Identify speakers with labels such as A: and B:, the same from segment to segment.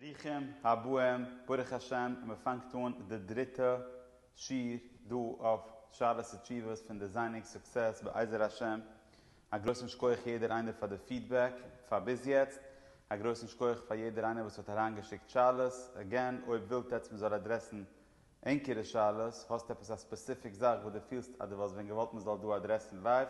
A: ברוכים הבאים, ברוך השם מען פאנגט אן די דריטע שיעור דא אויף שאלות ותשובות פון דעזיינינג סוקסעס בעזר השם, א גרויסן שכוח יעדער איינער פאר די פידבעק פאר ביז יעצט, א גרויסן שכוח פאר יעדער איינער וואס האט אריינגעשיקט שאלות, עגעין אויב ווילט עטץ מען זאל אדרעסן ענקערע שאלות, האסט עפעס א ספעסיפיק זאך וואס דו פילסט אז דו וואלסט ווען געוואלט מען זאל דא אדרעסן לייוו,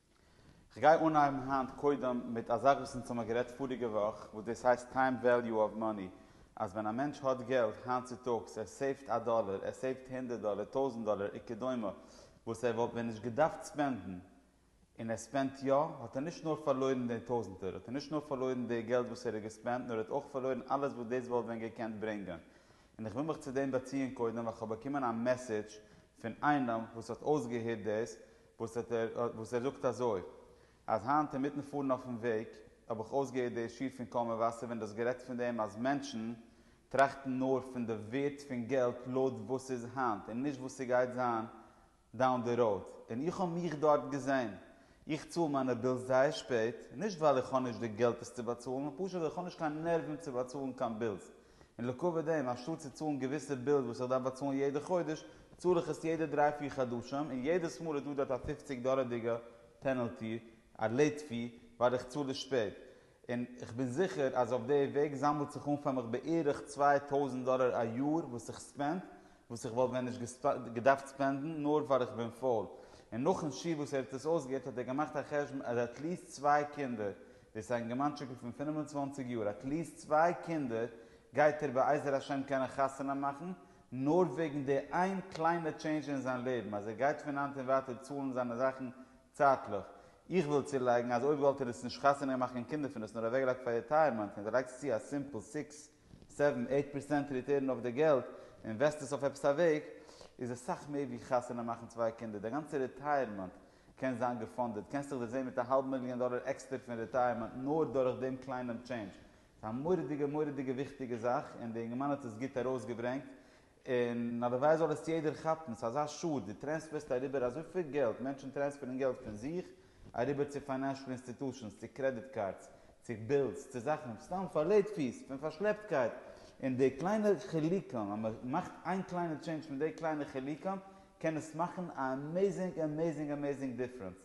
A: כ'גיי אנהייבן היינט קודם מיט א זאך וואס אונז האמער גערעדט פאריגע וואך וואס דאס הייסט טיים וועליו אוו מאני אז ווען א מענטש האט געלט היינט צוטאגס ער סעיווט א דאלער ער סעיווט הונדערט דאלער טויזענט דאלער וכדומה וואס ער וואלט ווען נישט געדארפט ספענדן און ער ספענדט יא האט ער נישט נאר פארלוירן די טויזענטער האט ער נישט נאר פארלוירן די געלט וואס ער האט געספענדט נאר ער האט אויך פארלוירן אלעס וואס דאס וואלט ווען געקענט ברענגען און איך וויל מיך צו דעם באציען קודם ווייל כ'האב באקומען א מעסעדזש פון איינעם וואס האט אויסגעהערט דאס וואס ער זאגט אזוי, אז היינט אינמיטן פארן אויפן וועג האב איך אויסגעהערט די שיר פון קול מבשר ווען דו האסט גערעדט פון דעם אז מענטשן טראכטן נאר פון די ווערט פון געלט לויט וואס ס'איז היינט און נישט וואס ס'גייט זיין דאון די ראוד, און איך האב מיך דארט געזען. איך צאל מיינע בילס זייער שפעט, נישט ווייל איך האב נישט די געלט עס צו באצאלן, פשוט ווייל איך האב נישט קיין נערוון צו באצאלן קיין בילס, און לעקאווע דעם, אנשטאט צו צאלן געוויסע בילס וואס איך דארף באצאלן יעדע חודש, צאל איך עס יעדע דריי פיר חדשים, און יעדעס מאל איז דא דארט א פופציג דאלערדיגע פענעלטי, א לעיט פי, ווייל איך צאל עס שפעט. און איך בין זיכער אז אויף די וועג זאמלט זיך אן פאר מיך בערך צוויי טויזנט דאלער א יאר וואס איך ספענד, וואס איך וואלט ווען נישט געדארפט ספענדן, נאר ווייל איך בין פויל. און נאכן שיעור וואס ער האט עס אויסגעהערט האט ער געמאכט א חשבון אז עטליעסט צוויי קינדער דאס א אינגערמאנטשיקל פון פֿינף און צוואַנציק יאר האט ליז צוויי קינדער, גייט ער בעזר השם קענען חתונה מאכן, נאר וועגן די איין קליינע טשעינדזש אין זיין לעבן אז ער גייט פון היינט און ווייטער צאלן זיינע זאכן צייטליך. איך וויל צולייגן אז אויב וואלט ער עס נישט חתונה געמאכט קיין קינדער פון עס נאר אוועקגעלייגט פאר ריטייערמענט און דו לייגסט צו א סימפל סיקס, סעווען, עיט פערסענט ריטערן אויף די געלט און וועסט עס אויף עפעס א וועג, איז עס סאך מער ווי חתונה מאכן צוויי קינדער, די גאנצע ריטייערמענט קען זיין געפאנדעד, קענסט דיך דערזעהן מיט א האלב מיליאן דאלער עקסטער פון רעטייערמענט נאר דורך דעם קליינעם טשעינדזש. ס'איז א מורא'דיגע מורא'דיגע וויכטיגע זאך און די אינגערמאן האט עס גוט ארויסגעברענגט און הלוואי זאל עס יעדער כאפן, ס'איז אזא שאד, דו טרענספערסט אריבער אזויפיל געלט, מענטשן טרענספערן געלט פון זיך אריבער צו פיינענשל אינסטיטושענס, צו קרעדיט קארדס, צו בילס, צו זאכן סתם פאר לעיט פיס, פון פארשלעפטקייט, און די קליינע חילוקים, אז מ'מאכט איין קליינע טשעינדזש מיט די קליינע חילוקים, קען עס מאכן א עמעזינג עמעזינג עמעזינג דיפרענס,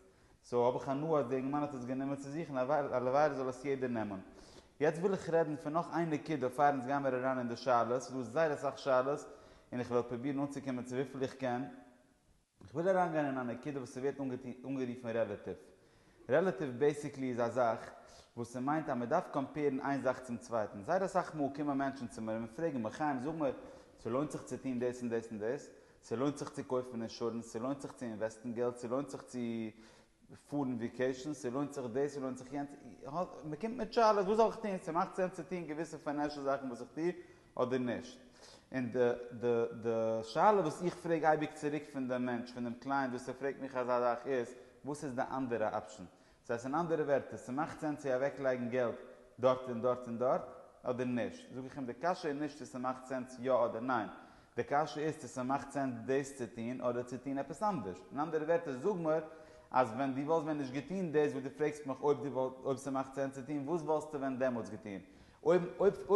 A: סאו האב איך הנאה אז די יונגמאן האט עס גענומען צו זיך און הלוואי זאל עס יעדער נעמען. יעצט וויל איך רעדן פון נאך איין נקודה פאר אונז גיין מיר אריין אין די שאלות, ס'איז דא זייער אסאך שאלות און איך וועל פרובירן אנצוקומען צו וויפיל איך קען, איך וויל אריינגיין אין א נקודה וואס ס'ווערט אנגערופן רעלאטיוו רעלאטיוו בעסיקלי איז א זאך וואס ס'מיינט אז מ'דארף קאמפעירן איין זאך צום צווייטן. זייער אסאך מאל קומען מענטשן צו מיר און פרעגן מיר, חיים זאג מיר, ס'לוינט זיך צו טון דאס און דאס און דאס? ס'לוינט זיך צו קויפן אינשורענס? ס'לוינט זיך צו אינוועסטן געלט? ס'לוינט זיך צו פארן ויקעישן? ס'לוינט זיך דאס? ס'לוינט זיך יענץ? מ'קומט מיט שאלות, וואס זאל איך טון? ס'מאכט סענס צו טון געוויסע פיינענשל זאכן וואס איך טו? אדער נישט. און די די די שאלה וואס איך פרעג אייביג צוריק פון דעם מענטש, פון דעם קלייענט וואס ער פרעגט מיך אזא זאך איז, וואס איז די אנדערע אפשען? דאס הייסט אין אנדערע ווערטער, ס'מאכט סענס צו אוועקלייגן געלט דארט און דארט און דארט, אדער נישט? זאג איך אים די קשיא איז נישט צו ס'מאכט סענס יא אדער ניין, די קשיא איז צו ס'מאכט סענס דאס צו טון אדער צו טון עפעס אנדערש. אין אנדערע ווערטער זאג מיר אז ווען דו וואלסט ווען נישט געטון דאס וואס דו פרעגסט מיך אויב ס'מאכט סענס צו טון, וואס וואלסטו ווען דעמאלטס געטון? אויב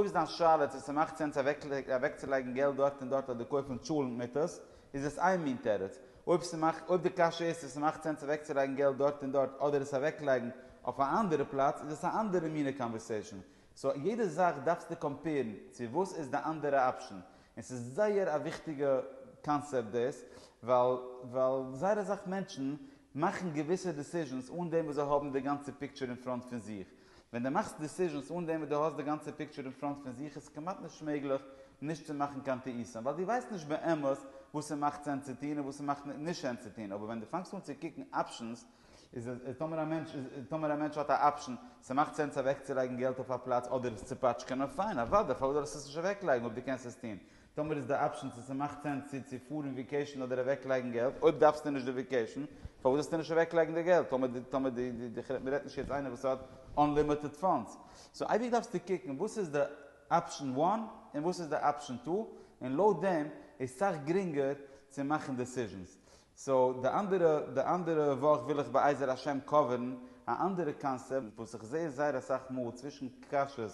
A: איז דיין שאלה צו ס'מאכט סענס אוועקצולייגן געלט דארט און דארט אדער קויפן טשולענט מיטעס, איז עס איין מין תירוץ. אויב די קשיא איז צו ס'מאכט סענס אוועקצולייגן געלט דארט און דארט אדער עס אוועקלייגן אויף א אנדערע פלאץ, איז עס א אנדערע מינע קאנווערסעישאן. סאו יעדע זאך דארפסטו קאמפעירן צו וואס איז די אנדערע אפשען. און ס'איז זייער א וויכטיגע קאנצעפט דאס, ווייל זייער אסאך מענטשן מאכן געוויסע דעסיזשענס אן דעם וואס זיי האבן די גאנצע פיקטשער אין פראנט פון זיך. ווען דו מאכסט דיסיזשענס אן דעם וואס דו האסט די גאנצע פיקטשער אין פראנט פון זיך איז כמעט נישט מעגליך נישט צו מאכן קיין טעותים ווייל דו ווייסט נישט באמת וואס ס'מאכט סענס צו טון און וואס ס'מאכט נישט סענס צו טון אבער ווען דו פאנגסט אן צו קוקן אפשענס איז טאמער א מענטש איז טאמער א מענטש האט א אפשען ס'מאכט סענס אוועקצולייגן געלט אויף א פלאץ אדער עס צו פאטשקענען פיין אוודאי פארוואס זאל ער עס נישט אוועקלייגן אויב דו קענסט עס טון טאמער איז די אפשען צו ס'מאכט סענס צו צו פארן וויקעישן אדער אוועקלייגן געלט, אויב דארפסטו נישט די וויקעישן פארוואס זאלסטו נישט אוועקלייגן די געלט, טאמער די טאמער די די די כ'רעד מ'רעדט נישט יעצט איינער וואס האט אנלימיטעד פאנדס, סאו אייביג דארפסטו קוקן וואס איז די אפשען וואן און וואס איז די אפשען טו און לויט דעם איז סאך גרינגער צו מאכן דעסיזשענס, סאו די אנדערע די אנדערע וואך וויל איך בעזר השם קאווערן א אנדערע קאנסעפט וואס איך זעה זייער אסאך מאל צווישן קשיות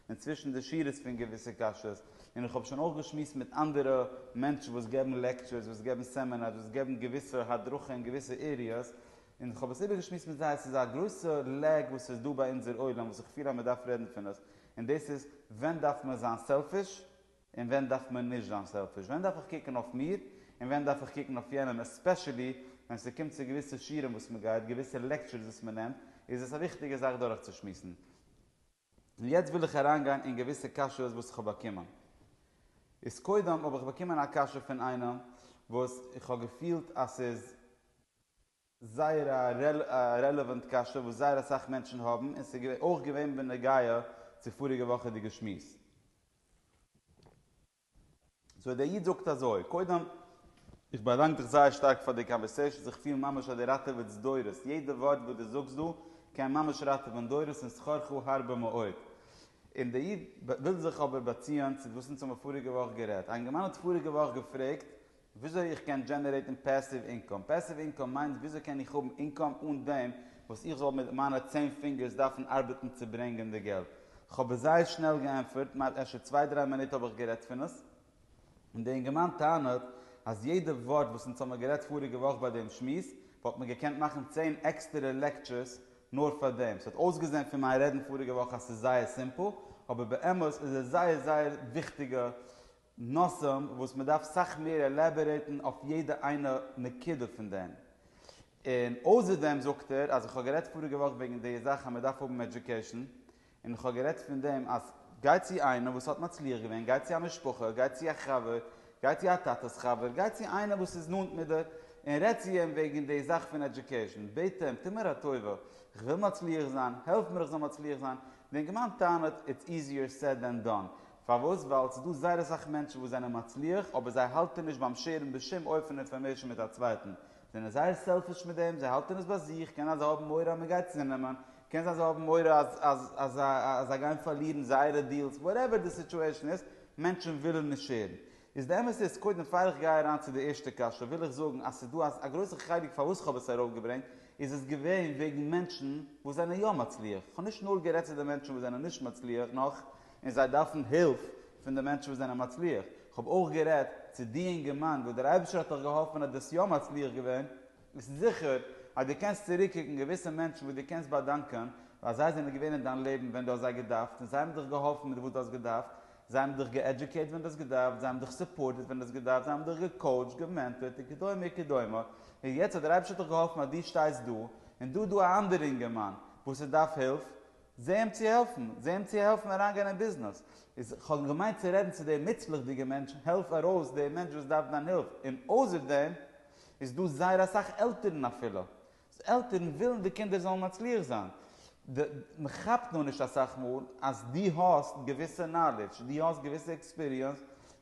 A: און צווישן די שורות פון געוויסע קשיות, און איך האב שוין אויך געשמועסט מיט אנדערע מענטשן וואס געבן לעקטשורס, וואס געבן סעמינארס, וואס געבן געוויסע הדרכה אין געוויסע עריעס, און איך האב עס איבערגעשמועסט מיט זיי, עס איז א גרויסע לעק וואס איז דא ביי אונזער עולם וואס איך פיל אז מען דארף רעדן פון עס, און דאס איז, ווען דארף מען זיין סעלפיש, און ווען דארף מען נישט זיין סעלפיש, ווען דארף איך קוקן אויף מיר, און ווען דארף איך קוקן אויף יענעם, עספעשעלי ווען ס'קומט צו געוויסע שיעורים וואס מען גייט, געוויסע לעקטשורס וואס מען נעמט, איז עס א וויכטיגע זאך דורכצושמועסן. און יעצט וויל איך אריינגיין אין געוויסע קשיות וואס איך האב באקומען. איז קודם האב איך באקומען א קשיא פון איינעם וואס איך האב געפילט אז ס'איז זייער א רעלעוואנט קשיא וואס זייער אסאך מענטשן האבן און ס'איז אויך געווען בנוגע צו פאריגע וואכעדיגע שמועס. סאו דער איד זאגט אזוי, קודם, איך באדאנק דיך זייער שטארק פאר די קאנווערסעישאנס, איך פיל ממש אז די ראטעוועטס דורות, יעדע ווארט וואס די זאגסט דא קען ממש ראטעווען דורות און שכרך הרבה מאוד. און דער איד וויל זיך אבער באציען צו וואס אונז האבן פאריגע וואך גערעדט, א יונגערמאן האט פאריגע וואך געפרעגט וויאזוי איך קען דזשענערעיטן פעסיוו אינקאם. פעסיוו אינקאם מיינט וויאזוי קען איך האבן אינקאם אן דעם וואס איך זאל מיט מיינע צען פינגערס דארפן ארבעטן צו ברענגען די געלט. כ'האב עס זייער שנעל געענטפערט, מיינסט אפשר צוויי דריי מינוט האב איך גערעדט פון עס? און די אינגערמאן טענה'ט אז יעדע ווארט וואס אונז האמיר גערעדט פאריגע וואך ביי דעם שמועס וואלט מען געקענט מאכן צען עקסטערע לעקטשערס נאר פאר דעם. ס'האט אויסגעזען פון מיין רעדן פאריגע וואך אז ס'איז זייער סימפל, אבער באמת איז עס זייער זייער וויכטיגע נושאים וואס מען דארף סאך מער עלעבערעיטן אויף יעדע איינע נקודה פון דעם. און אויסער דעם זאגט ער אז איך האב גערעדט פאריגע וואך וועגן די זאך אז מען דארף האבן עדיוקעישן, און איך האב גערעדט פון דעם אז גיי צו איינעם וואס האט מצליח געווען, גיי צו א משפחה, גיי צו א חבר, גיי צו א טאטע'ס חבר, גיי צו איינעם וואס איז נאנט מיט דיר און רעד צו אים וועגן די זאך פון עדיוקעישן, בעט אים, טו מיר א טובה, איך וויל מצליח זיין, העלף מיר איך זאל מצליח זיין, דער גמ' טענה'ט, איטס איזיער סעד דען דאן. פארוואס? ווייל ס'איז דא זייער אסאך מענטשן וואס זענען מצליח אבער זיי האלטען נישט ביים שעירן בשום אופן אינפארמעישן מיט א צווייטן, זיי זענען זייער סעלפיש מיט דעם, זיי האלטען עס ביי זיך, קען זיין זיי האבן מורא אז מען גייט זיי נעמען, קען זיין זיי האבן מורא אז אז אז אז זיי גייען פארלירן זייערע דיעלס, וואטעווער די סיטועשן איז, מענטשן ווילן נישט שעירן. איז די אמת איז, קודם פאר איך גיי אריין צו די ערשטע קשיא וויל איך זאגן אז ס'איז דא א גרויסע חלק פארוואס כ'האב עס ארויפגעברענגט איז עס געווען וועגן מענטשן וואס זענען יא מצליח, כ'האב נישט נאר גערעדט צו די מענטשן וואס זענען נישט מצליח נאך, און זיי דארפן הילף פון די מענטשן וואס זענען מצליח, איך האב אויך גערעדט צו די אינגערמאן וואס דער אייבערשטער האט דיך געהאלפן אז דו ביסט יא מצליח געווען, ביסט זיכער אז דו קענסט צוריקקוקן געוויסע מענטשן וואס דו קענסט באדאנקען ווייל זיי זענען געווען אין דיין לעבן ווען דו האסט זיי געדארפט און זיי האבן דיך געהאלפן מיט וואס דו האסט געדארפט, זיי האבן דיך געעדזשוקעיט ווען דו האסט געדארפט, זיי האבן דיך סופארטעד ווען דו האסט געדארפט, זיי האבן דיך געקאוטשט, געמענטארט, און כדומה און כדומה, און יעצט האט דער אייבערשטער דיך געהאלפן אז דו שטייסט דא, און דא איז דא א אנדערע אינגערמאן וואס ער דארף הילף, זע אים צו העלפן, זע אים צו העלפן אריינגיין אין ביזנעס. איז כ'האב געמיינט צו רעדן צו די מוצלח'דיגע מענטשן, העלף ארויס די מענטש וואס דארף דיין הילף, און אויסער דעם איז דא זייער אסאך עלטערן אפילו, עלטערן ווילן די קינדער זאלן מצליח זיין, די מען כאפט נאר נישט אסאך מאל אז דו האסט געוויסע נאלידזש, דו האסט געוויסע עקספיריענס,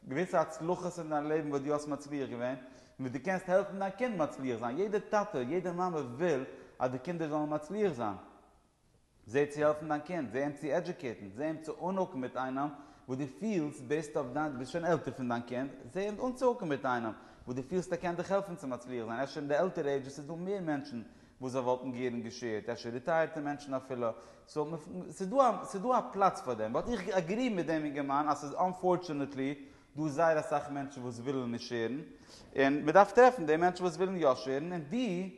A: געוויסע הצלחות אין דיין לעבן וואס דו האסט מצליח געווען, און וואס דו קענסט העלפן דיין קינד מצליח זיין, יעדער טאטע, יעדער מאמע וויל אז די קינדער זאלן מצליח זיין, זע צו העלפן דיין קינד, זע אים צו עדיוקעיטן, זע אים צו אנהוקן מיט איינעם וואס דו פילסט בעיסד אויף דיין, דו ביסט שוין עלטער פון דיין קינד, זע אים אנצוהוקן מיט איינעם וואס דו פילסט ער קען דיך העלפן צו מצליח זיין, אפשר אין די עלטערע עידזשעס איז דא מער מענטשן וואס זיי וואלטן גערן געשעירט, אפשר ריטייערטע מענטשן אפילו, סאו ס'איז דא א פלאץ פאר דעם, באט איך אגרי מיט דעם אינגערמאן אז ס'איז אנפארטשענעטלי דא זייער אסאך מענטשן וואס ווילן נישט שעירן, און מ'דארף טרעפן די מענטשן וואס ווילן יא שעירן און ווי.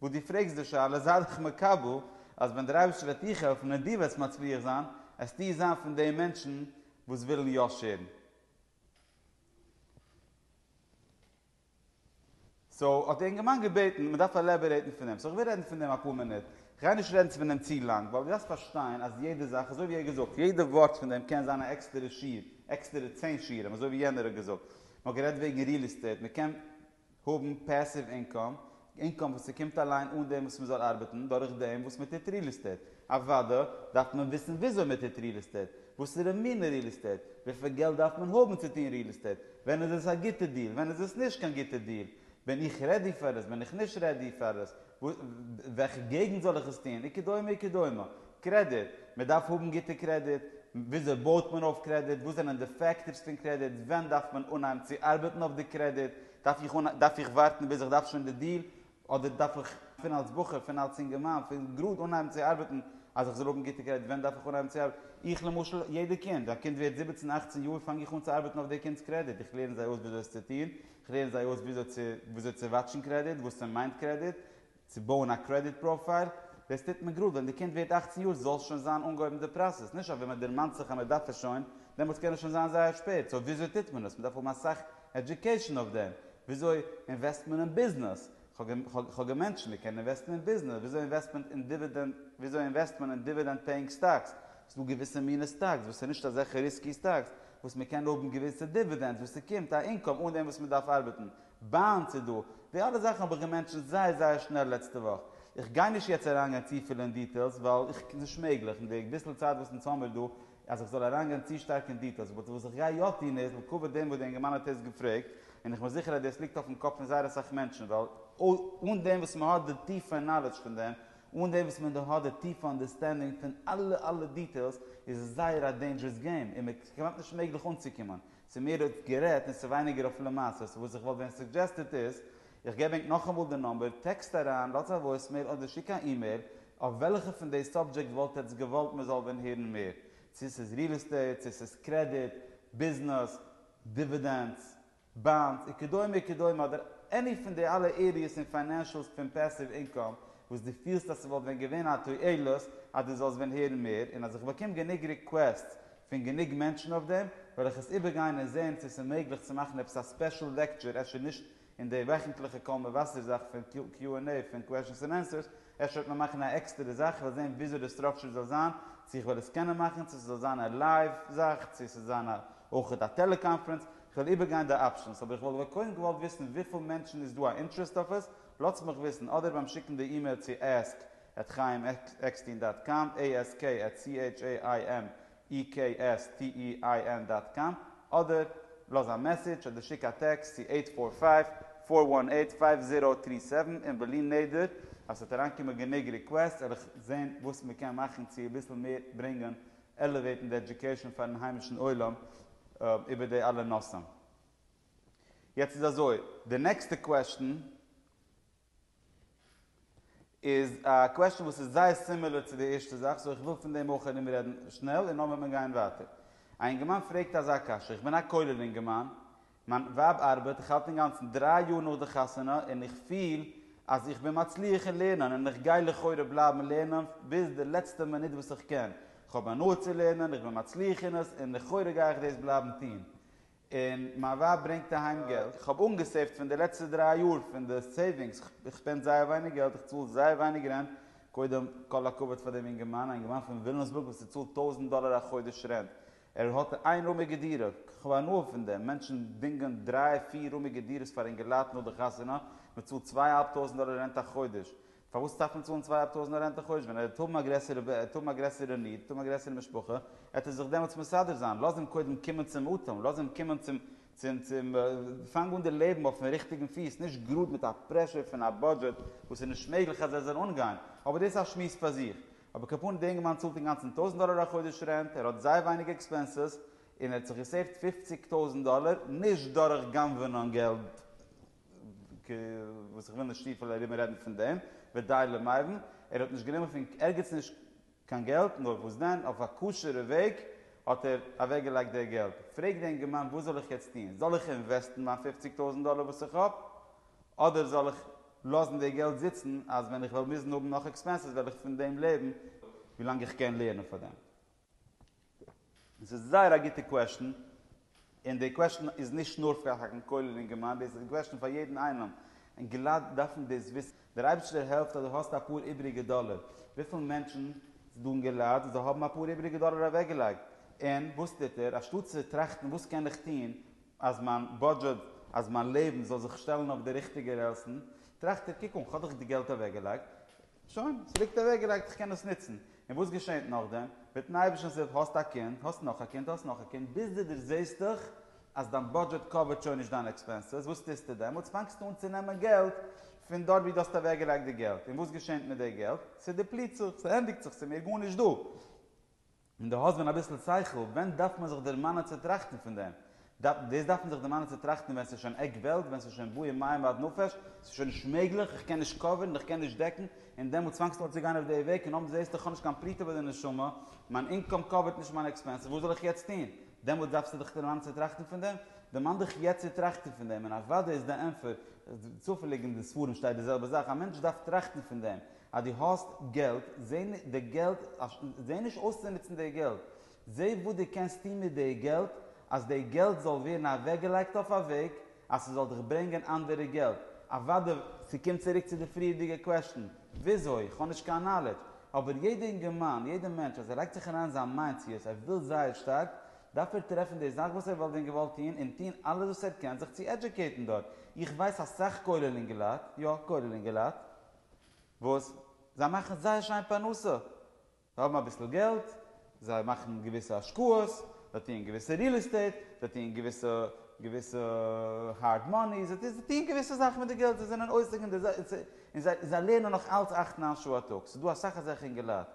A: וואס דו פרעגסט די שאלה זיי דאך מקבל אז ווען דער אייבערשטער וועט דיך העלפן און דו וועסט מצליח זיין, וועסטו זיין פון די מענטשן וואס ווילן יא שעירן. סאו האט די אינגערמאן געבעטן מען דארף עלעבערעיטן פון דעם, סאו איך וועל רעדן פון דעם אפאר מינוט, איך גיי נישט רעדן פון דעם צו לאנג, ווייל דו דארפסט פארשטיין אז יעדע זאך, אזוי ווי ער האט געזאגט, יעדע ווארט פון דעם קען זיין א עקסטערע שיעור, עקסטערע צען שיעורים, אזוי ווי יענער האט געזאגט, מען האט גערעדט וועגן ריעל עסטעיט, מען קען האבן פעסיוו אינקאם, אינקאם וואס ס'קומט אליין אן דעם וואס מ'זאל ארבעטן, דורך דעם וואס מ'טוט ריעל עסטעיט. אוודא דארף מען וויסן וויאזוי מ'טוט ריעל עסטעיט, וואסערע מינע ריעל עסטעיט, וויפיל געלט דארף מען האבן צו טון ריעל עסטעיט, ווען איז עס א גוטע דיל, ווען איז עס נישט קיין גוטע דיל, בין איך רעדי פאר עס, בין איך נישט רעדי פאר עס, וועלכע געגנט זאל איך עס טון? וכדומה וכדומה. קרעדיט, מען דארף האבן גוטע קרעדיט, וויאזוי בויט מען אויף קרעדיט, וואס זענען די פעקטארס פון קרעדיט, ווען דארף מען אנהייבן צו ארבעטן אויף די קרעדיט, דארף איך ווארטן ביז איך דארף שוין די דיל, אדער דארף איך פון אלס בחור, פון אלס אינגערמאן, פון גראד אנהייבן צו ארבעטן אז איך זאל האבן גוטע קרעדיט, ווען דארף איך אנהייבן צו ארבעטן? איך למשל, יעדע קינד, א קינד ווערט זיבעצן אכצן יאר פאנג איך אן צו ארבעטן אויף די קינד'ס קרעדיט, איך לערן זיי אויס וויאזוי עס צו טון, כ'לערן זיי אויס וויאזוי צו וויאזוי צו וואטשן קרעדיט, וואס ס'מיינט קרעדיט, צו בויען א קרעדיט פראפייל, דאס טוט מען גראד ווען די קינד ווערט אַכצן יאר זאל שוין זיין אנגעהויבן די פראסעס, נישט אז ווען מען דערמאנט זיך אז מען דארף עס שוין, דעמאלטס קען עס שוין זיין זייער שפעט, סאו וויאזוי טוט מען עס, מען דארף האבן אסאך עדיוקעישאן אויף דעם, וויאזוי אינוועסט מען אין ביזנעס, כ'האב געמענטשענט מען קען אינוועסטן אין ביזנעס, וויאזוי אינוועסט מען אין דיווידענד, וויאזוי אינוועסט מען אין דיווידענד פעיאינג סטאקס, ס'דא געוויסע מינע סטאקס וואס איז נישט אזעלכע ריסקי סטאקס, וואס מען קען האבן געוויסע דיווידענדס וואס ס'קומט א אינקאם אן דעם וואס מען דארף ארבעטן, באנדס איז דא, די אלע זאכן האב איך געמענטשענט זייער זייער שנעל לעצטע וואך. איך גיי נישט יעצט אריינגיין צופיל אין דיטעילס ווייל איך קען נישט מעגליך אין די ביסל צייט וואס אונז האמיר דא אז איך זאל אריינגיין צו שטארק אין דיטעילס באט וואס איך גיי יא טון איז לכבוד דעם וואס די אינגערמאן האט עס געפרעגט און איך בין זיכער אז דאס ליגט אויפן קאפ פון זייער אסאך מענטשן ווייל אן דעם וואס מען האט די טיפע נאלעדזש פון דעם אן דעם וואס מען האט די טיפע אנדערסטענדינג פון אלע אלע דיטעילס איז עס זייער א דעינדזשערעס געים און מען כמעט נישט מעגליך אנצוקומען צו מער אויף גערעדט און ס'ווייניגער אויף למעשה סאו וואס איך וואלט ווען סוג'עסטעד איז איך געב ענק נאכאמאל די נאמבער טעקסט אריין לאטס א וואויסמעיל אדער שיק א אימעיל אויף וועלכע פון די סאבדזשעקט וואלט עטס געוואלט מען זאל ווען הערן מער צו ס'איז ריעל עסטעיט צו ס'איז קרעדיט ביזנעס דיווידענדס באנדס, און כדומה וכדומה אדער עני פון די אלע עריעס און פיינענשעלס פון פעסיוו אינקאם וואס דו פילסט אז ס'וואלט ווען געווען א תועלת אז דו זאלסט ווען הערן מער און אז איך באקום גענוג ריקוועסטס פון גענוג מענטשן אויף דעם וועל איך עס איבערגיין און זען צו ס'איז מעגליך צו מאכן עפעס א ספעשל לעקטשור אפשר נישט אין די וועכנטליכע קול מבשר זאך פון קיו ענד עי פון קוועשנס און ענסערס אפשר וועט מען מאכן א עקסטערע זאך כ'וועל זען וויאזוי די סטראקשור זאל זיין צו כ'וועל עס קענען מאכן צו ס'זאל זיין א לייוו זאך צו ס'זאל זיין אויך א טעלעקאנפרענס כ'וועל איבערגיין די אפשענס, אבער איך וואלט אבער קודם געוואלט וויסן וויפיל מענטשן איז דא א אינטרעסט אויף עס, לאטס מיך וויסן, אדער ביים שיקן די אימעיל צו ask at chaim eckstein dot com, ask at c h a i m e k s t e i n dot com, אדער לאז א מעסעדזש אדער שיק א טעקסט צו אייט פאר פייוו, פאר וואן אייט, פייוו זירא טרי סעווען, און בלי נדר אז ס'וועט אריינקומען גענוג ריקוועסטס וועל איך זען וואס מ'קען מאכן צו אביסל מער ברענגען עלעוועיטן די עדיוקעישאן פארן היימישן עולם איבער די אלע נושאים. יעצט איז אזוי, די נעקסטע קוועשטן איז א קוועשטן וואס איז זייער סימילער צו די ערשטע זאך, סאו איך וויל פון דעם אויך ארום רעדן שנעל און נאך וועט מען גיין ווייטער. א אינגערמאן פרעגט אזא קשיא, איך בין א כולל אינגערמאן, מיין ווייב ארבעט, איך האלט אינגאנצן דריי יאר נאך די חתונה און איך פיל אז איך בין מצליח אין לערנען און איך גיי לכאורה בלייבן לערנען ביז די לעצטע מינוט וואס איך קען, איך האב הנאה צו לערנען, איך בין מצליח אין עס און לכאורה גיי איך דאס בלייבן טון. און מיין ווייב ברענגט אהיים געלט. איך האב אנגעסעיווט פון די לעצטע דריי יאר פון די סעיווינגס, איך שפענד זייער ווייניג געלט, איך צאל זייער ווייניג רענט, קודם כל הכבוד פאר דעם אינגערמאן, א אינגערמאן פון וויליאמסבורג וואס צאלט טויזנט דאלער א חודש רענט, ער האט א איין רומיגע דירה, כ'האב הנאה פון דעם, מענטשן דינגען דריי פיר רומיגע דירות פאר אינגעלייט נאך די חתונה, מען צאלט צוויי אהאלב טויזענט דאלער רענט א חודש, פארוואס דארף מען צאלן צוויי אהאלב טויזענט רענט א חודש, ווען ער וועט האבן א גרעסערע וועט ער האבן א גרעסערע ניד, וועט האבן א גרעסערע משפחה, וועט ער זיך דעמאלטס מסדר זיין, לאז אים קודם קומען צום אטעם, לאז אים קומען צום צום צום פאנג אן די לעבן אויפן ריכטיגן פיס, נישט גראד מיט א פרעשור פון א בודזשעט וואס איז נישט מעגליך אז ער זאל אנגיין, אבער דאס איז א שמועס פאר זיך, אבער כפרה די אינגערמאן צאלט אינגאנצן טויזנט דאלער א חודש רענט, ער האט זייער ווייניג עקספענסעס, און ער האט זיך געסעיווט פֿופֿציק טויזנט דאלער, נישט דורך גנב'ענען און געלט ק, וואס איך וויל נישט צופיל ארום רעדן פון דעם, ודי למאירן, ער האט נישט גענומען פון ערגעץ נישט קיין געלט, נאר וואס דען, אויף א כשר'ע וועג האט ער אוועק געלייגט די געלט, פרעג די אינגערמאן וואס זאל איך יעצט טון, זאל איך אינוועסטן מיין פֿופֿציק טויזנט דאלער וואס איך האב? אדער זאל איך לאזן די געלט זיצן אז ווען איך וועל מוזן האבן נאך עקספענסעס וועל איך פון דעם לעבן ווילאנג איך קען לערנען פאר דעם? דאס איז זייער א גוטע קוועשטען, און די קוועשטען איז נישט נאר פאר חקרן כולל און גמרא, דאס איז א קוועשטען פאר יעדן איינעם, און געלייט דארפן דאס וויסן. דער אייבערשטער העלפט אז דו האסט אפאר איבעריגע דאלער, וויפיל מענטשן ס'איז דא אין געלייט וואס זיי האבן אפאר איבעריגע דאלער אוועקגעלייגט, און וואס טוט ער, אנשטאט צו טראכטן וואס קען איך טון אז מיין בודזשעט, אז מיין לעבן זאל זיך שטעלן אויף די ריכטיגע רעלסן, טראכט ער, קוק אן, כ'האב דאך די געלט אוועקגעלייגט, שוין, ס'ליגט אוועקגעלייגט, איך קען עס נוצן. און וואס געשעהט נאכדעם? מיט'ן אייבערשטנ'ס הילף האסט א קינד, האסט נאך א קינד, האסט נאך א קינד, ביז דו דערזעהסטעך אז דיין בודזשעט קאווערט שוין נישט דיינע עקספענסעס, וואס טוסטו דעמאלטס? פאנגסטו אן צו נעמען געלט פון דארט ווי דו האסט אוועקגעלייגט די געלט, און וואס געשעהט מיט די געלט? ס'דיפליט זיך, ס'ענדיגט זיך, ס'איז מער גארנישט דא. און דו האסט ווען אביסל שכל, ווען דארף מען זיך דערמאנען צו טראכטן פון דעם? דאס דארף מען זיך דערמאנען צו טראכטן ווען ס'איז שוין עק וועלט, ווען ס'איז שוין בוער מים עד נפש, ס'איז שוין נישט מעגליך, איך קען נישט קאווערן, איך קען נישט דעקן, און דעמאלט פאנגסטו אן צו גיין אויף די וועג, און אמאל זעסטו איך האב נישט קיין פרוטה ביי די נשמה, מיין אינקאם קאווערט נישט מיינע עקספענסעס, וואס זאל איך יעצט טון? דעמאלט דארפסטו דיך דערמאנען צו טראכטן פון דעם? דערמאן דיך יעצט צו טראכטן פון דעם, און אוודאי איז די ענטפער, צופעליג אין די ספרים שטייט די זעלבע זאך, א מענטש דארף טראכטן פון דעם, אז דו האסט געלט, זעה די געלט, זעה נישט אויס צו נוצן די געלט, זעה וואס דו קענסט טון מיט די געלט, אז די געלט זאל ווערן אוועקגעלייגט אויף א וועג אז ס'זאל דיך ברענגען אנדערע געלט, אוודאי. ס'קומט צוריק צו די פריערדיגע קוועסטשן, וויאזוי? כ'האב נישט קיין נאלעדזש, אבער יעדע אינגערמאן, יעדע מענטש אז ער לייגט זיך אריין אין זיין מיינד צו עס, ער וויל זייער שטארק, דארף ער טרעפן די זאך וואס ער וואלט ווען געוואלט טון, און טון אלעס וואס ער קען זיך צו עדזשוקעיטן דארט. איך ווייס אסאך כולל אינגעלייט, יא, כולל אינגעלייט. וואס זיי מאכן זייער שיין פרנסה, זיי האבן אביסל געלט, זיי מאכן געוויסע השקעות, זיי טוען געוויסע ריעל עסטעיט, זיי טוען געוויסע געוויסע הארד מאני, זיי טוען געוויסע זאכן מיט די געלט, זיי זענען עוסק אין די זאך, און זיי זיי לערנען נאך אלץ אַכט נײַן שעה א טאג, ס'איז דא אסאך אזעלכע אינגעלייט,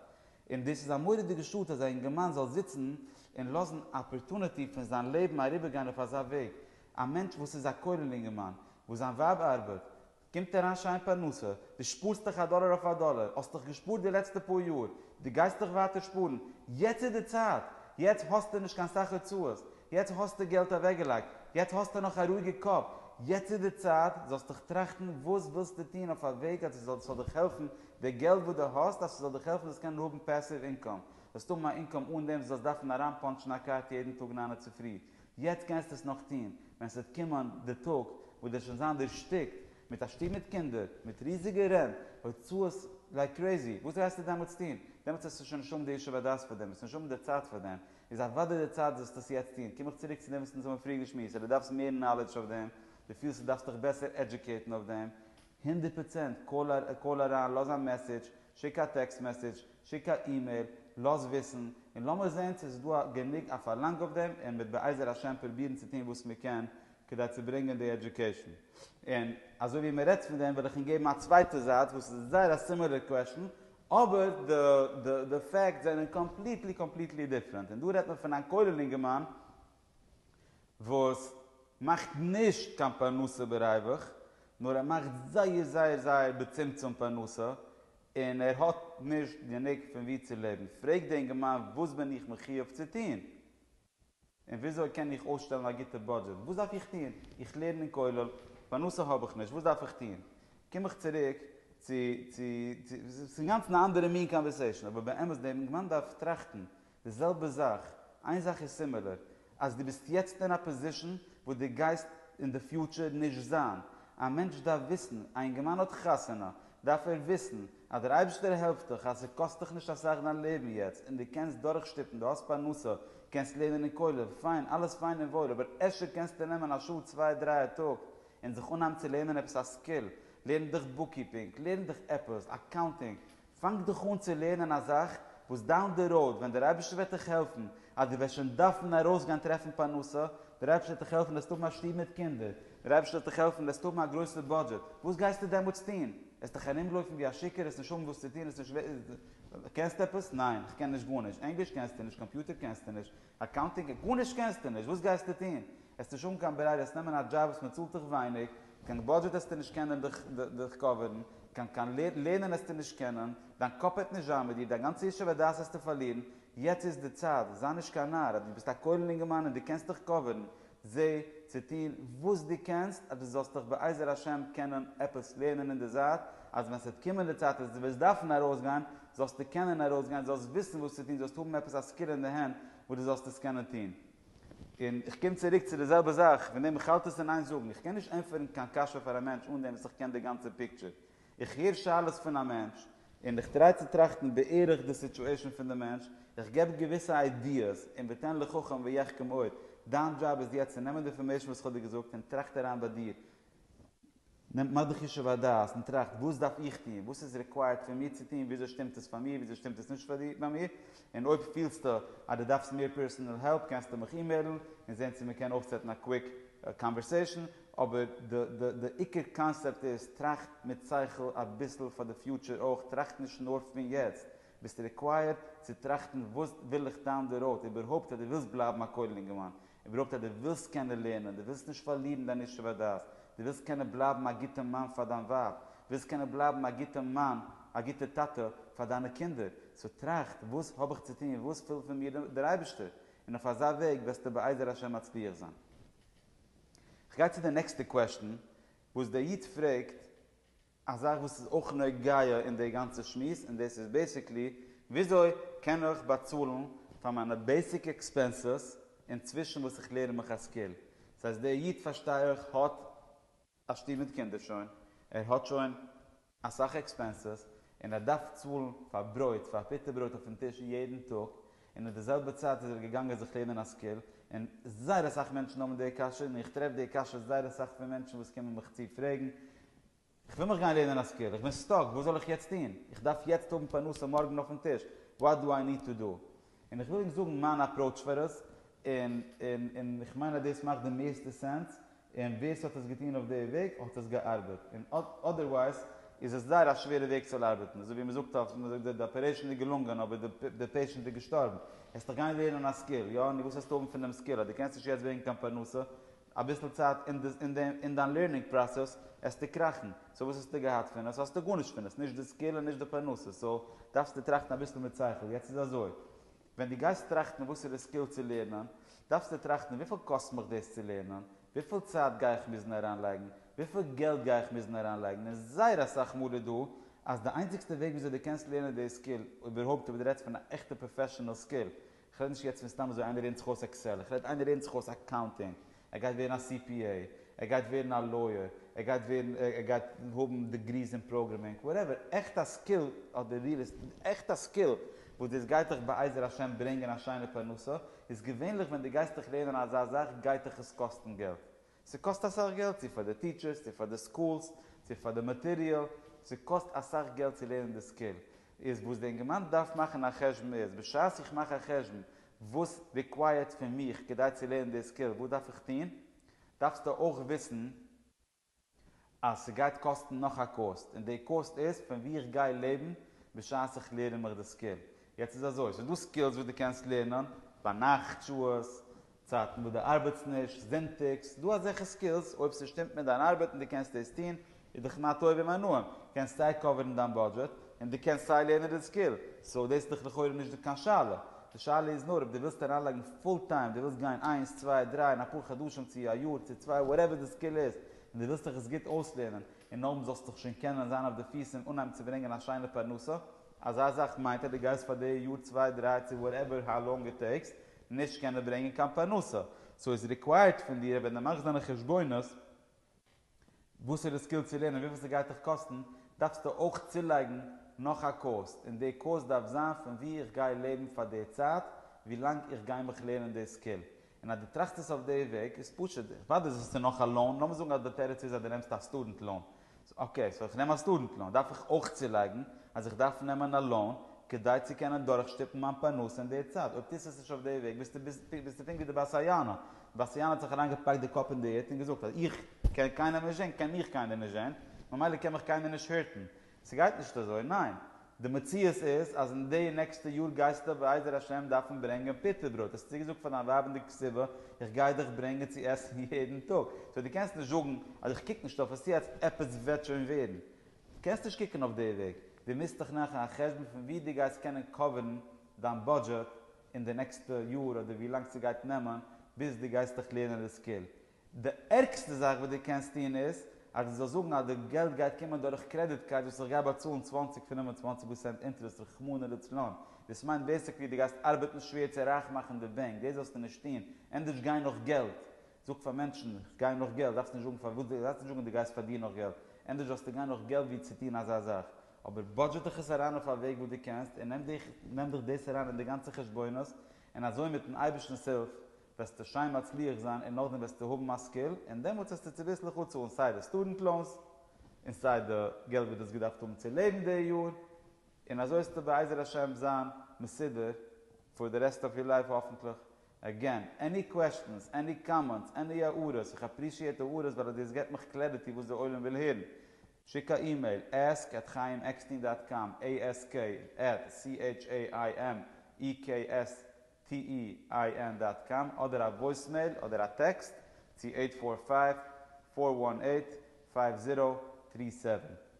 A: און דאס איז א מורא'דיגע שאד אז א אינגערמאן זאל זיצן און לאזן אפערטוניטי פון זיין לעבן אריבערגיין אויף אזא וועג, א מענטש וואס איז א כולל אינגערמאן, וואס זיין ווייב ארבעט, קומט אריין שיין פרנסה, דו שפארסט דיך א דאלער אויף א דאלער, האסט דיך געשפארט די לעצטע פאר יאר, דו גייסט דיך ווייטער שפארן, יעצט איז די צייט, יעצט האסטו נישט קיין סאך הוצאות, יעצט האסטו געלט אוועקגעלייגט, יעצט האסטו נאך א רואיגע קאפ, יעצט איז די צייט זאלסט דיך טראכטן וואס ווילסטו טון אויף א וועג אז עס זאל דיך העלפן, די געלט וואס דו האסט אז עס זאל דיך העלפן זאלסט קענען האבן פעסיוו אינקאם, זאלסט האבן א אינקאם אן דעם וואס זאלסט דארפן אריינפאנטשן א קארט יעדן טאג ניין און צופרי, יעצט קענסטו עס נאך טון ווען ס'וועט קומען די טאג וואס דו וועסט שוין זיין דערשטיקט מיט א שטוב מיט קינדער, מיט ריזיגע רענט הוצאות לייק קרעזי, וואס וועסטו דעמאלטס טון? דעמאלטס וועסטו שוין נישט האבן די ישוב הדעת פאר דעם, וועסט נישט האבן די צייט פאר דעם, איז אוודאי די צייט זאלסטו עס יעצט טון, קום איך צוריק צו דעם וואס אונז האבן פריער געשמועסט, אז דו דארפסט מער נאלעדזש אויף דעם, דו פילסט דו דארפסט דיך בעסער עדיוקעיטן אויף דעם, הונדערט פראצענט, קאל אריין, לאז א מעסעדזש, שיק א טעקסט מעסעדזש, שיק א אימעיל, לאז וויסן, און לאמיר זען צו עס איז דא א גענוג א פארלאנג אויף דעם, און מ'וועט בעזר השם פרובירן צו טון וואס מען קען כדי צו ברענגען די עדיוקעישן. און אזוי ווי מען רעדט פון דעם וועל איך און געבן א צווייטע זייט וואס איז זייער א סימילער קוועשן, אבער די פאקטס זענען קאמפליטלי קאמפליטלי דיפרענט, און דא רעדט מען פון איין כולל אינגערמאן, וואס מאכט נישט קיין פרנסה בריווח, נאר ער מאכט זייער זייער זייער בצמצום פרנסה, און ער האט נישט גענוג פון ווי צו לעבן, פרעגט די אינגערמאן וואס בין איך מחיוב צו טון? און וויאזוי קען איך אויסשטעלן א גוטע בודזשעט? וואס דארף איך טון? איך לערן אין כולל, פרנסה האב איך נישט, וואס דארף איך טון? קום איך צוריק צו, צו, צו, ס'איז אינגאנצן א אנדערע מין קאנווערסעישאן, אבער באמת דער אינגערמאן דארף טראכטן, די זעלבע זאך, איין זאך איז סימילער, אז דו ביסט יעצט אין א פאזישן וואס דו גייסט אין די פיוטשער נישט זיין. א מענטש דארף וויסן, א אינגערמאן האט חתונה, דארף ער וויסן אז דער אייבערשטער העלפט דיך אז ס'קאסט דיך נישט אסאך דיין לעבן יעצט און דו קענסט דורכשטופן, דו האסט פרנסה, קענסט לערנען אין כולל, פיין, אלעס פיין און וואויל, אבער אפשר קענסטו נעמען א שעה צוויי דריי א טאג און זיך אנהייבן צו לערנען עפעס א סקיל, לערן דיך בוקקיפינג, לערן דיך עפעס, אקאונטינג, פאנג דיך אן צו לערנען א זאך וואס דאון די ראוד ווען דער אייבערשטער וועט דיך העלפן אז דו וועסט שוין דארפן ארויסגיין טרעפן פרנסה, דער אייבערשטער וועט דיך העלפן דו וועסט האבן א שטוב מיט קינדער, דער אייבערשטער וועט דיך העלפן דו וועסט האבן א גרויסע בודזשעט, וואס גייסטו דעמאלטס טון? וועסט דיך ארומלויפן ווי א שיכור, וועסט נישט האבן וואס צו טון, וועסט נישט, קענסט עפעס? ניין, איך קען נישט גארנישט, ענגליש קענסטו נישט, קאמפיוטער קענסטו נישט, אקאונטינג, גארנישט קענסטו נישט, וואס גייסטו טון? וועסט נישט האבן קיין ברירה, וועסט נעמען א דזשאב וואס מען צאלט דיך ווייניג, קיין באדזשעט העסטו נישט קענען דיך קאווערן, קיין לערנען העסטו נישט קענען, דיין קאפ העט נישט זיין מיט דיר, דיין גאנצע ישוב הדעת העסטו פארלירן, יעצט איז די צייט, זיי נישט קיין נאר, אז דו ביסט א כולל אינגערמאן און דו קענסט דיך קאווערן, זע צו טון וואס דו קענסט אז דו זאלסט דיך בעזר השם קענען עפעס לערנען אין די זייט, אז ווען ס'וועט קומען די צייט אז דו וועסט דארפן ארויסגיין, זאלסטו קענען ארויסגיין, זאלסט וויסן וואס צו טון, זאלסט האבן עפעס א סקיל אין די הענט וואס דו זאלסט עס קענען טון. און איך קום צוריק צו די זעלבע זאך, פון דעם איך האלט עס אין איין זאגן, איך קען נישט ענטפערן קיין קשיא פאר א מענטש אן דעם וואס איך קען די גאנצע פיקטשער. איך הער שאלות פון א מענטש, און איך טריי צו טראכטן בערך די סיטואשען פון די מענטש, איך געב געוויסע איידיעס, און ותן לחכם ויחכם עוד, דיין דזשאב איז יעצט צו נעמען די אינפארמעישן וואס איך האב דיר געזאגט און טראכט אריין ביי דיר, נעמט מען די חשוב הדעת און טראכט וואס דארף איך טון, וואס איז רעקווייערט פון מיר צו טון, וויאזוי שטימט עס פאר מיר, וויאזוי שטימט עס נישט ביי מיר, און אויב פילסטו אז דו דארפסט מער פערסענעל העלפ קענסטו מיך אימעילן און זען צו מען קען אויפסעטן א קוויק קאנווערסעישן, אבער די עיקר קאנסעפט איז טראכט מיט שכל אביסל פאר די פיוטשער אויך, טראכט נישט נאר פון יעצט, ביסט רעקווייערט צו טראכטן וואס וויל איך דאון די ראוד, איבערהויפט אז דו ווילסט בלייבן א כולל אינגערמאן, איבערהויפט אז דו ווילסט קענען לערנען, דו ווילסט נישט פארלירן דיין ישוב הדעת, דו ווילסט קענען בלייבן א גוטע מאן פאר דיין ווייב, דו ווילסט קענען בלייבן א גוטע מאן, א גוטע טאטע פאר דיינע קינדער, סאו טראכט, וואס האב איך צו טון, וואס וויל פון מיר דער אייבערשטער, און אויף אזא וועג וועסטו בעזר השם מצליח זיין. כ'גיי צו די נעקסטע קוועשטען וואס דער איד פרעגט, א זאך וואס איז אויך נוגע אין די גאנצע שמועס און דאס איז בעיסיקלי וויאזוי קען איך באצאלן פאר מיינע בעיסיק עקספענסעס אינצווישן וואס איך לערן מיך א סקיל. דאס הייסט דער איד פארשטיי איך האט א שטוב מיט קינדער שוין, ער האט שוין אסאך עקספענסעס און ער דארף צאלן פאר ברויט, פאר פיטער ברויט אויפן טיש יעדן טאג, און אין די זעלבע צייט איז ער געגאנגען זיך לערנען א סקיל, און זייער אסאך מענטשן האבן די קשיא, און איך טרעף די קשיות זייער אסאך פון מענטשן וואס קומען מיך צו פרעגן, איך וויל מיך גיין לערנען א סקיל, איך בין סטאק, וואס זאל איך יעצט טון? איך דארף יעצט האבן פרנסה מארגן אויפן טיש, וואט דו איי ניד טו דו? און איך וויל ענק זאגן מיין אפראוטש פאר עס, און איך מיין אז דאס מאכט די מערסטע סענס, און ווער ס'האט עס געטון אויף די וועג האט עס געארבעט, און אדערווייז איז עס זייער א שווערע וועג צו ארבעטן, אזוי ווי מ'זאגט אויף מ'זאגט די אפערעישן איז געלונגען אבער די פעישענט איז געשטארבן, העסטעך גיין לערנען א סקיל, יא, נו וואס העסטו האבן פון דעם סקיל אז דו קענסט נישט יעצט ברענגן קיין פרנסה, אביסל צייט אין דיין לערנינג פראסעס העסטו קראכן, סאו וואס האסטו געהאט פון עס, האסטו גארנישט פון עס, נישט די סקיל און נישט די פרנסה, סאו דארפסטו טראכטן אביסל מיט שכל, יעצט איז אזוי. ווען דו גייסט טראכטן וואסערע סקיל צו לערנען, דארפסטו טראכטן וויפיל קאסט מיך דאס צו לערנען, וויפיל צייט גיי איך מוזן אריינלייגן, וויפיל געלט גיי איך מוזן אריינלייגן, און זייער אסאך מאל איז דא אז די איינציגסטע וועג וויאזוי דו קענסט לערנען די סקיל, איבערהויפט אויב דו רעדסט פון א עכטע פראפעשענעל סקיל, איך רעד נישט יעצט פון סתם אזוי איינער לערנט זיך אויס עקסעל, איך רעד איינער לערנט זיך אויס אקאונטינג, ער גייט ווערן א סי פי עי, ער גייט ווערן א לויער, ער גייט ווערן, ער גייט האבן דעגריס אין פראגרעמינג, וואטעווער, עכט א סקיל, אט די ריעל עסטעיט, עכט א סקיל, וואס דאס גייט דיך בעזר השם ברענגען א שיינע פרנסה, איז געווענליך ווען דו גייסט דיך לערנען אזא זאך גייט דיך עס קאסטן געלט, ס'קאסט אסאך געלט, צו פאר די טיטשערס, צו פאר די סקולס, צו פאר די מאטעריאל, ס'קאסט אסאך געלט צו לערנען די סקיל, איז וואס די אינגערמאן דארף מאכן א חשבון איז, בשעת איך מאך א חשבון וואס ריקווייערט פון מיך כדי צו לערנען די סקיל, וואס דארף איך טון? דארפסטו אויך וויסן אז ס'גייט קאסטן נאך א קאסט, און די קאסט איז פון ווי איך גיי לעבן בשעת איך לערן מיך די סקיל. יעצט איז אזוי, ס'איז דא סקילס וואס דו קענסט לערנען ביינאכט שעות, צייטן וואס דו ארבעטסט נישט, זונטאגס, ס'דא אזעלכע סקילס אויב ס'שטימט מיט דיין ארבעט און דו קענסט דאס טון, איז דאך מה טוב ומה נעים, קענסט סיי קאווערן דיין בודזשעט, און דו קענסט סיי לערנען די סקיל, סאו דאס איז דאך לכאורה נישט קיין שאלה. די שאלה איז נאר אויב דו ווילסט אריינלייגן פול טיים, דו ווילסט גיין איינס, צוויי, דריי, אין אפאר חדשים צו א יאר צו צוויי וואטעווער די סקיל איז, און דו ווילסט דיך עס גוט אויסלערנען, און נאכדעם זאלסטו דיך שוין קענען זיין אויף די פיס און אנהייבן צו ברענגען א שיינע פרנסה. אזא זאך מיינט אז דו גייסט פאר די יאר צוויי דריי צו וואטעווער האו לאנג איט טעיקס, נישט קענען ברענגען קיין פרנסה. סאו איז ריקווייערט פון דיר ווען דו מאכסט דיינע חשבונות, וואסערע סקיל צו לערנען וויפיל ס'גייט דיך קאסטן, דארפסטו אויך צולייגן נאך א קאוסט, און די קאוסט דארף זיין פון ווי איך גיי לעבן פאר די צייט ווי לאנג איך גיי מיך לערנען די סקיל, און אז דו טראכסט עס אויף די וועג איז פשוט די. וואדע זאגסטו ס'איז נאך א לאון, לאמיר זאגן אז די תירוץ איז אז דו נעמסט א סטודענט לאון, סאו אקעי סאו איך נעם א סטודענט לאון דארף איך אויך צולייגן אז איך דארף נעמען א לאון כדי צו קענען דורכשטופן מיין פרנסה אין די צייט, אויב טוסטו עס נישט אויף די וועג ביסטו ביסטו פונקט ווי די בת היענה, באַסטיאַן האָט זיך אַרײַנגעפּאַקט די קאָפּ אין די ערד און געזאָגט, אַז איך קען קיינעם נישט זען, קען מיך קיינער נישט זען, ממילא קען מיך קיינער נישט הערטן. ס'גייט נישט אַזוי. ניין. די מציאות איז, אַז אין די נעקסטע יאָר גייסטו בעזר השם דאַרפֿן ברענגען פּוטער-ברויט. האָסט צוגעזאָגט פֿאַר דײַן ווײַב אין די קציבה, איך גיי דיך ברענגען צו עסן יעדן טאָג. סאָ דו קענסט נישט זאָגן, אַז איך קוק נישט אויף עס יעצט, עפּעס וועט שוין ווערן. דו קענסט נישט קוקן אויף די וועג. דו מוזט דיך מאַכן אַ חשבון פֿון ווי דו גייסט קענען קאָווערן דײַן בודזשעט אין די נעקסטע יאר אדער ווי לאנג ס'גייט נעמען ביז דו גייסט דיך לערנען די סקיל. די ערגסטע זאך וואס דו קענסט טון איז אז דו זאלסט זאגן אז די געלט גייט קומען דורך קרעדיט קארד וואס איך גיי באצאלן צוואַנציק פון און צוואַנציק פראצענט אינטערעסט רחמנא לצלן. דאס מיינט בעיסיקלי דו גייסט ארבעטן שווער צו רייך מאכן די בענק. דאס זאלסטו נישט טון. ענדערש גיי נאך געלט. זאג פאר מענטשן, איך גיי נאך געלט, דארפסט נישט זאגן פארוואס, דו דארפסט נישט זאגן אז דו גייסט פאר דיר נאך געלט, ענדערש זאלסטו גיין נאך געלט ווי צו טון אזא זאך, אבער בודזשעט דיך עס אריין אויף א וועג וואס דו קענסט, און נעם דיך דאס אריין אין די גאנצע חשבונות, און אזוי מיטן אייבערשטנ'ס הילף וועסטו שיין מצליח זיין און נאכדעם וועסטו האבן א סקיל, און דעמאלטס וועסטו צוביסלעך אפצאלן סיי די סטודענט לאונס, און סיי די געלט וואס דו האסט געדארפט האבן צו לעבן די יאר, און אזוי וועסטו בעזר השם זיין מסודר פאר די רעסט אוו יור לייף האפנטליך, אגען, עני קוועשטענס, עני קאמענטס, עני הערות, איך אפרישיעט הערות ווייל דאס געט מיך קלעריטי וואס די עולם וויל הערן. שיק א אימעיל, ask at chaimekstein dot com, ask at c-h-a-i-m-e-k-s-t-e-i-n dot com, אדער א וואויסמעיל אדער א טעקסט צו אייט פאר פייוו, פאר וואן אייט, פייוו זירא, טרי סעווען.